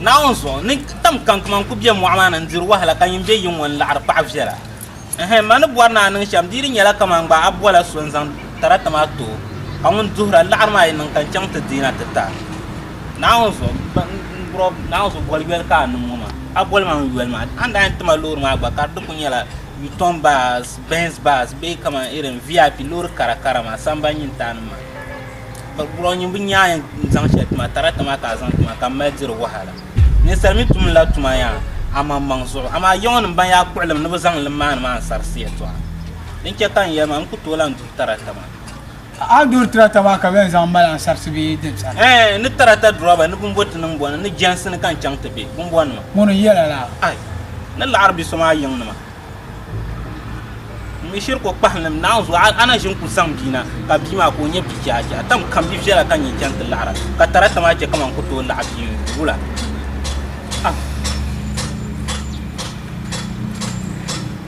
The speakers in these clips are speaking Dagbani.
Naawuni zuɣu ni tam kankuma n ku be mɔɣu maa ni n diri wahala ka nyin be yi ŋɔ n laɣiri paɣa viɛla. Ɛhɛn, ma ni bɔri ni a niŋ shɛm dii di nyɛla kaman gba a bɔla so n zaŋ tarata maa ti o ka ŋun duhir a laɣiri maa yi niŋ ka n chaŋ ti deei na ti ta Naawuni zuɣu boli yoli ka a niŋ ŋɔ maa. A boli ma n yoli maa. A ni daa yɛn ti ma loori maa gba ka di ku nyɛla Yutɔn bas, Benz bas bee kaman irin VIP loori kara kara maa, samban nyin taanim maa. ka kura nyimbu nyaaya n zaŋ shɛli tuma tarakta maa ka a zaŋ tuma ka n mali diri wahala ninsal mi tumdila tuma yaa amaŋmaŋ zuɣu amaa yiŋɔ nim ban yaa kpuɣilim ni bi zaŋ li maani maa n sarisi yɛltɔɣa din chɛ ka n yɛli maa n ku tooi lahi duri tarakta maa a duri tarakta maa ka bɛn zaŋ mali a sarisi bee din sani ɛɛ ni tarakta durɔba ni bin bo ti niŋ bɔni ni jɛnsi ni ka n chaŋ ti be bin bɔni ma ŋuni n yɛla la ai ni laɣiri bi so maa yiŋ nima Ŋun shiri ko kpahilim naawuni zuɣu a na ʒin ku zaŋ bia na ka bia maa ka o nyɛ bia chɛha chɛha tam kam bia viɛla ka nyɛ chɛŋ ti laɣara ka tarata maa chɛ kamani ku tooi laɣa bia wula ah.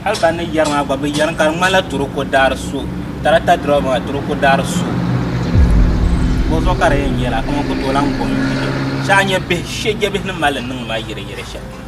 hali ban ni yɛri maa gba bi yɛri ka di ŋmanila toroko daari so tarata dirɛba maa toroko daari so o zuɣu ka di yɛn yɛla kamani ku tooi lahi gom shɛha nyɛ bihi shɛjɛ bihi ni mali niŋ maa yɛrɛ yɛrɛ shɛm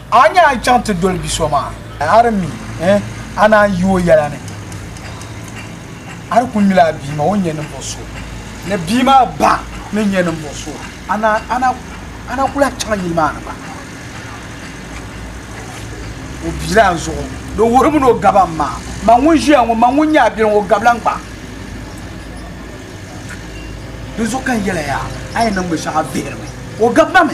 A ni a chaŋ ti doli bi so maa. A di mi eh, a naan yi o yɛla ni. A di kul mila a bia maa, o ni nyɛ ninvuɣ so. Ni bia maa ba ni nyɛ ninvuɣ so, a naan a na ku lahi chaŋ yili maa ni gba. O biilan zuɣu, di wuhirimi ni o gaba m-ma. Man ŋun ʒiya ŋɔ, man ŋun nyɛ a biɛliŋ, o gabila n-gba. Dinzuɣu ka n yɛli a yaa, a yi niŋ binshɛɣu a vihiri mi, o gab ma mi.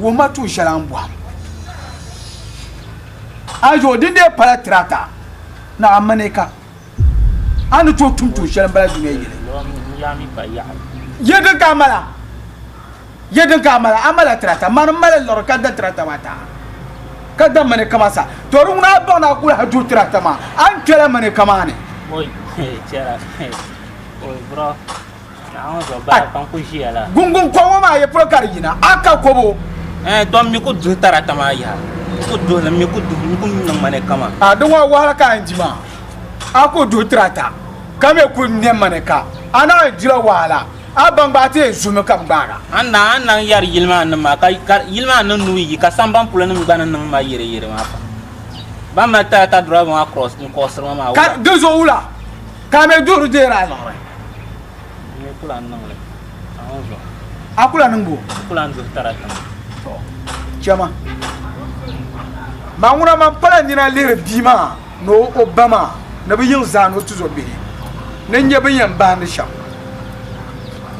Wuhima tuun shɛli a ni bɔhim. A zuɣu din dee pala tirata ni a mani ka a ni tooi tum tuun shɛli m-bala dunia yili. Yɛlidin ka a mala? Yɛlidin ka a mala? A mala tirata. Mani m-mali n lɔri ka da tirata maa taha ka da mani ka maa sa. To di ŋuna a baŋ ni a kuli ha duhi tirata maa, a ni kpela mani ka maa ni. Gungun kɔŋɔ maa yi polo ka di yina a ka kɔbo eh, tɔm mi ku duhi tarata maa yaha ku duhi li mi ku duhi mi ku niŋ ma ni kama a di ŋɔ wahala ka n di maa a ku duhi tarata ka mi ku niŋ ma ni ka a na dila wahala a ban gbaai ti yɛn zumi ka bi gbaaga an na an na yɛri yili maa nim maa ka yili maa niŋ nuu yi ka samban polo nim gba ni niŋ ma yɛri yɛri maa pam ban mali tarata duraba maa kɔɣisiri ma maa ka di zuɣu wula Ka me duhiri deeri a zuɣuri. N-nyɛ kula n-niŋ li a ŋɔ zuɣu. A kula niŋ bo? N kula n-duhi tara tiŋa. Tɔ, chɛ ma. Ma ŋuna man pala nina lihiri bia maa ni o o ba maa ni bɛ yiŋ zaa ni o tizɔ bihi ni n-nyɛ bɛ ni yɛn bahindi shɛm.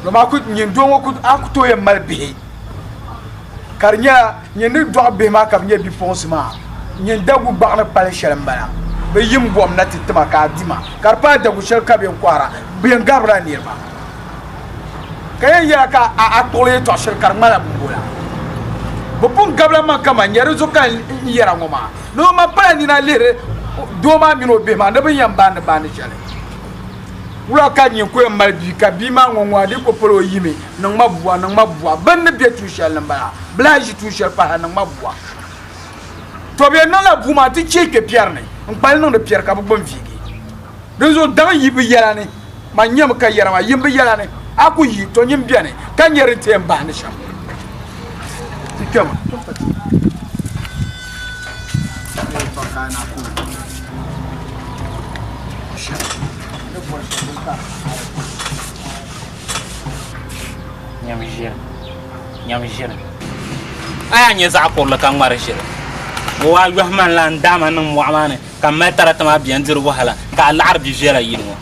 Dama a ku, nyin doo ŋɔ ku, a ku tooi yɛn mali bihi ka di nyɛla Nyini ni dɔɣi bihi maa ka bɛ nyɛ bipuɣinsi maa, nyini dagu gbaɣ ni kpalim shɛli m-bala. Bɛ yim gom na ti ti ma ka a di ma, ka di paai dagu shɛli ka bɛ yɛn kɔhira bɛ yɛn garbila niriba, ka yɛn yɛra ka a a kpuɣili yɛtɔɣ shɛli ka di ŋmanila bumbu la. Bɛ pun gabila m-maŋ ka man nya di zuɣu ka n yɛra ŋɔ maa. Ni ŋɔ man pala nina lihiri doo maa min o bihi maa ni bɛ ni yɛn baandi baandi shɛli. Wula ka nya ku yɛn mali bia ka bia maa ŋɔ ŋɔ a dii ku pol o yimi niŋ ma bua, niŋ ma bua. Bɛ ni ni be tuun shɛli ni m-bala. Bɛ lahi ʒi tuun shɛli pahi niŋ ma bua. Tɔ bɛ yɛn niŋla bua maa ti chɛ kpe piɛri ni n-kpa li niŋdi piɛri ka bɛ gbuni viigi. Dinzuɣu daŋ yi bɛ yɛla ni, man nyami ka yɛra maa, yim bɛ yɛla ni, a ku yi, tɔ nyin beni ka nya din ti yɛn bahindi shɛm. Ti kpɛma. A yaa nyɛ zaɣ kurili ka ŋmari ʒiri ŋɔ waa yɔhi man la n daama niŋ mɔɣu maa ni ka m mali tarata maa bɛn diri wahala ka a laɣiri bi viɛla yili ŋɔ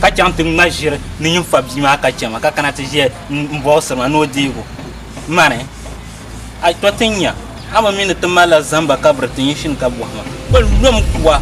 ka chaŋ ti ŋma ʒiri ni nyin fa bia maa ka chɛma ka kana ti ʒiya m bɔɣisiri ma ni o deeg o mani. A tɔ ti nya, a mi mi ni ti mali la zamba ka biri ti nyin shini ka bɔhi ma, Bɛ lom kuwa?